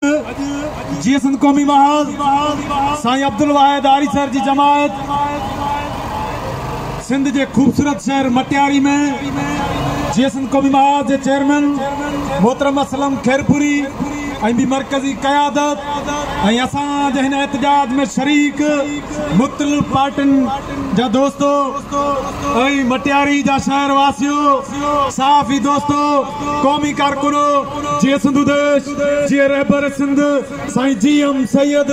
جيئي سنڌ قومي محاذ سائين عبدالواحد آريسر جي جماعت سنڌ جي خوبصورت شهر مٽياري ۾ جيئي سنڌ قومي محاذ جي چيئرمين محترم اسلم خيرپوري ۽ ٻي مرڪزي قيادت ۽ اسان جي هن احتجاج ۾ شريڪ مختلف پارٽين جا دوستو ۽ مٽياري جا شهر واسيو صحافي دوستو قومي ڪارڪنو جيئي سنڌو ديش جيئي رهبر سنڌ سائين جي ايم سيد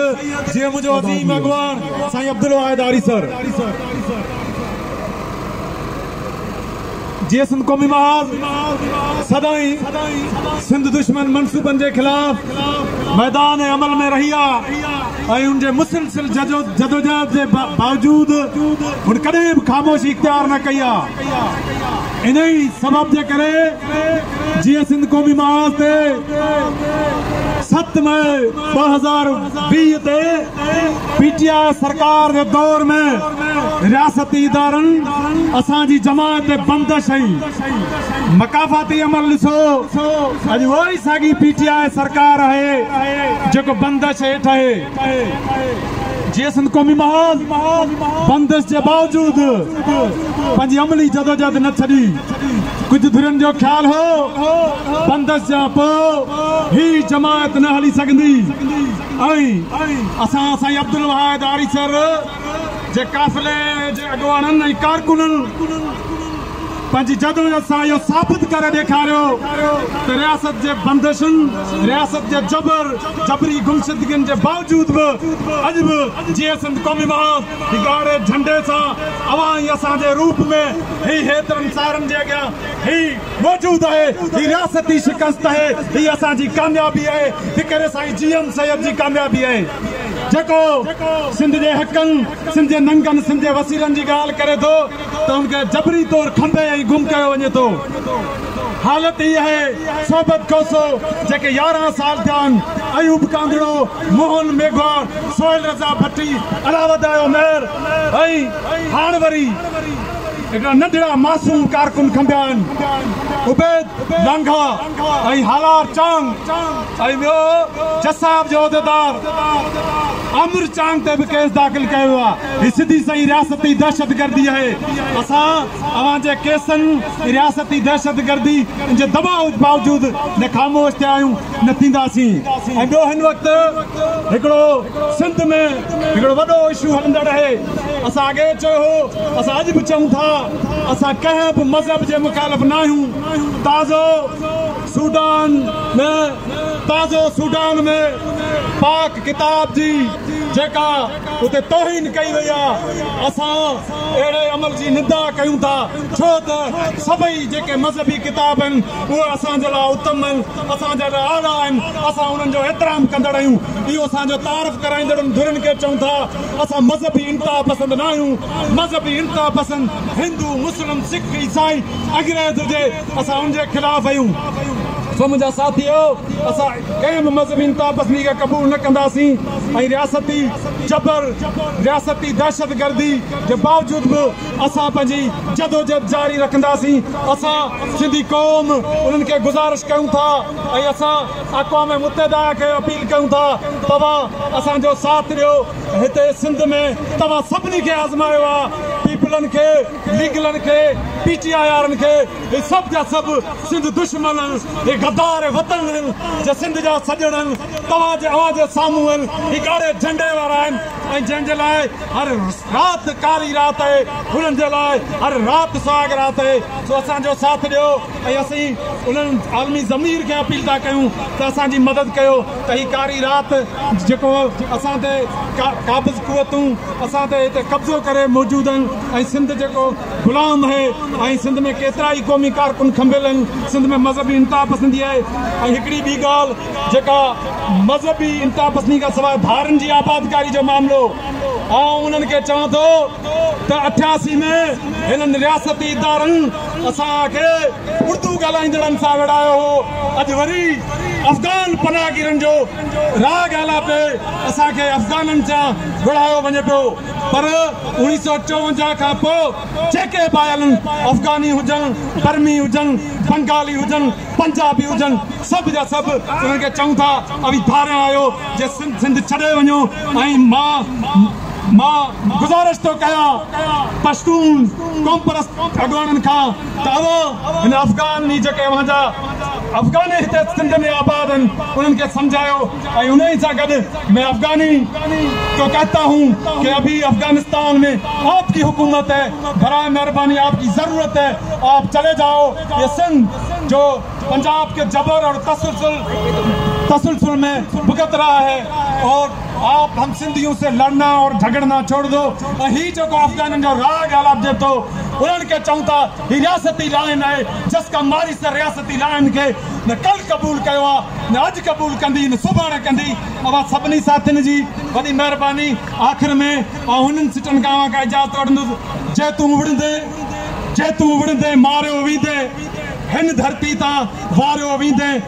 جيئي منهنجو عظيم اڳواڻ سائين عبدالواحد آريسر جيئي سنڌ قومي محاذ سدائين سنڌ دشمن منصوبن جي خلاف ميدان عمل ۾ رهي آ ۽ ان جي مسلسل جدوجهد جي باوجود هن ڪڏهن به خاموشي اختيار نه ڪئي آ انهي سبب جي ڪري جيئن سنڌ قومي محاذ تي ست مئي ٻه هزار ويهه تي پي ٽي آء سرڪار جي دور ۾ رياستي ادارن اسان جي جماعت تي بندش ۽ مڪافاتي عمل ڏسو اڄ اها ئي ساڳي پي ٽي آء سرڪار آهي جيڪو بندش هيٺ اهي جيئي سنڌ قومي محاذ بندش جي باوجود پنهنجي عملي جدوجهد نه ڇڏي. ڪجهه ڌرين جو خيال هو بندش جا پوء هي جماعت نه هلي سگهندي ۽ اسان سائين عبدالواحد آريسر جي قافلي جي اڳواڻن ۽ ڪارڪنن پنهنجي جدوجھد سان اهو ثابت ڪري ڏيکاريو ته رياست جي بندشن، رياست جي جبر، جبري گمشدگين جي باوجود به اڄ به جيئي سنڌ قومي محاذ جي ڳاڙهي جهنڊي سان اوهان ۽ اسان جي روپ ۾ هي هيترن سارن جي اڳيان هي موجود آهي، هي رياستي شڪست آهي، هي اسان جي ڪاميابي آهي، فڪر سائين جي ايم سيد جي ڪاميابي آهي، جيڪو سنڌ جي حقن، سنڌ جي ننگن، سنڌ جي وسيلن جي ڳالهه ڪري ٿو. ته ان کي جبري طور کنڀي ۽ گم ڪيو وڃي ٿو. حالت هي آهي صحبت کوسو جيڪي يارهن سال ٿيا آهن، ايوب ڪانگڙو، موهن ميگهواڙ، سهيل رضا ڀٽي، علاوادايو مير ۽ هاڻ وري هڪڙا ننڍڙا معصوم ڪارڪن کنڀيا آهن عبيد لانگاهه ۽ هالار چانگ ۽ ٻيو جساب جو عهديدار. عامر چانگ تي به ڪيس داخل ڪيو ويو آهي، هي سڌي سنئين رياستي دهشتگردي آهي، اسان اوهان جي ڪيسن ۽ رياستي دهشتگردي جي دٻاء باوجود نه خاموش ٿيا آهيون نه ٿينداسين ۽ ٻيو هن وقت هڪڙو سنڌ ۾ هڪڙو وڏو اشو هلندڙ آهي، اسان اڳي به چيو هو اسان اڄ به چئون ٿا اسان ڪنهن به مذهب جي مخالف نه آهيون، تازو. سوڊان ۾ تازو سوڊان ۾ پاڪ ڪتاب جي جيڪا اتي توهين ڪئي وئي آ اسان اهڙي عمل جي ندا ڪيون ٿا ڇو ته سڀئي جيڪي مذهبي ڪتاب آهن اهي اسان جي لاء اتم آهن اسان جي لاء اعليٰ آهن اسان انهن جو احترام ڪندڙ آهيون اهو اسان جو تعارف ڪرائيندڙن ڌرين کي چئون ٿا اسان مذهبي انتها پسند ناهيون مذهبي انتها پسند هندو مسلم سک عيسائي انگريز هجي اسان ان جي خلاف آهيون سو منهنجا ساٿيو اسان ڪنهن به مذهبي انتها پسندي کي قبول نه ڪنداسين ۽ رياستي جبر رياستي دهشت گردي جي باوجود به اسان پنهنجي جدوجهد جاري رکنداسين اسان سنڌي قوم انهن کي گذارش ڪيون ٿا ۽ اسان اقوام متحده کي اپيل ڪيون ٿا توهان اسان جو ساٿ ڏيو هتي سنڌ ۾ توهان سڀني کي آزمايو آهي پيپلن کي ليگلن کي پي ٽي آئي وارن کي اھي سڀ جا سڀ سنڌ دشمن اھن اھي غدار وطن اھن جي سنڌ جا سڄڻ اھن توھان جي اوھان جي سامھون اھن اھي ڳاڙھي جھنڊي وارا اھن ۽ جنھن جي لاء ھر رات ڪاري رات اھي انھن جي لاء ھر رات سھاڳ رات اھي سو اسان جو ساٿ ڏيو. ۽ اسين انهن عالمي ضمير کي اپيل ٿا ڪيون ته اسان جي مدد ڪيو ته هي ڪاري رات جيڪو اسان تي قابض قوتون اسان تي هتي قبضو ڪري موجود آهن ۽ سنڌ جيڪو غلام آهي ۽ سنڌ ۾ ڪيترا ئي قومي ڪارڪن کنڀيل آهن سنڌ ۾ مذهبي انتها پسندي آهي ۽ هڪڙي ٻي ڳالهه جيڪا مذهبي انتها پسندي کان سواء ڌارين جي آبادڪاري جو معاملو آئون انهن کي چوان ٿو ته اٺياسي ۾ هنن رياستي ادارن اسان کي اردو ڳالهائيندڙن سان ويڙهايو هو، اڄ وري افغان پناهگيرن جو راء ڳالهاء تي اسان کي افغانن سان ويڙهايو وڃي پيو پر اوڻيهه سؤ چوونجاهه کان پوء جيڪي به آيل آهن افغاني هجن، برمي هجن، بنگالي هجن، پنجابي هجن سڀ جا سڀ انهن کي چئون ٿا اوهين ڌاريان آهيو جي سنڌ ڇڏي وڃو ۽ مان. مان گذارش ٿو ڪيان پشتون قومپرست اڳواڻن کان ته اوهان هن افغان ۾ جيڪي اوهان جا افغاني هتي سنڌ ۾ آباد آهن انهن کي سمجهايو ۽ انهي سان گڏ مين افغاني ڪو ڪهتا هون ڪي ابهي افغانستان ۾ آپ ڪي حڪومت هي براهي مهرباني آپ ڪي ضرورت هي آپ چلي جائو يي سنڌ جو پنجاب ڪي جبر اور تسلسل تسلسل مين بھگت رها هي اور آپ هم سنڌيون سي لڙنا اور جهڳڙنا ڇوڙ دو ۽ هي جيڪو افغانن جو راڳ آلاپ جي ٿو انهن کي چئون ٿا هي رياستي لائن آهي جس ڪا ماري سر رياستي لائن کي نه ڪل قبول ڪيو آ نه اڄ قبول ڪندي نه سڀاڻي ڪندي اوهان سڀني ساٿين جي وڏي مهرباني آخر ۾ آئون هنن سٽن کان اوهان کان اجازت وٺندس جي تون وڙهندين جي تون وڙهندين ماريو ويندين هن ڌرتي تان واريو ويندين.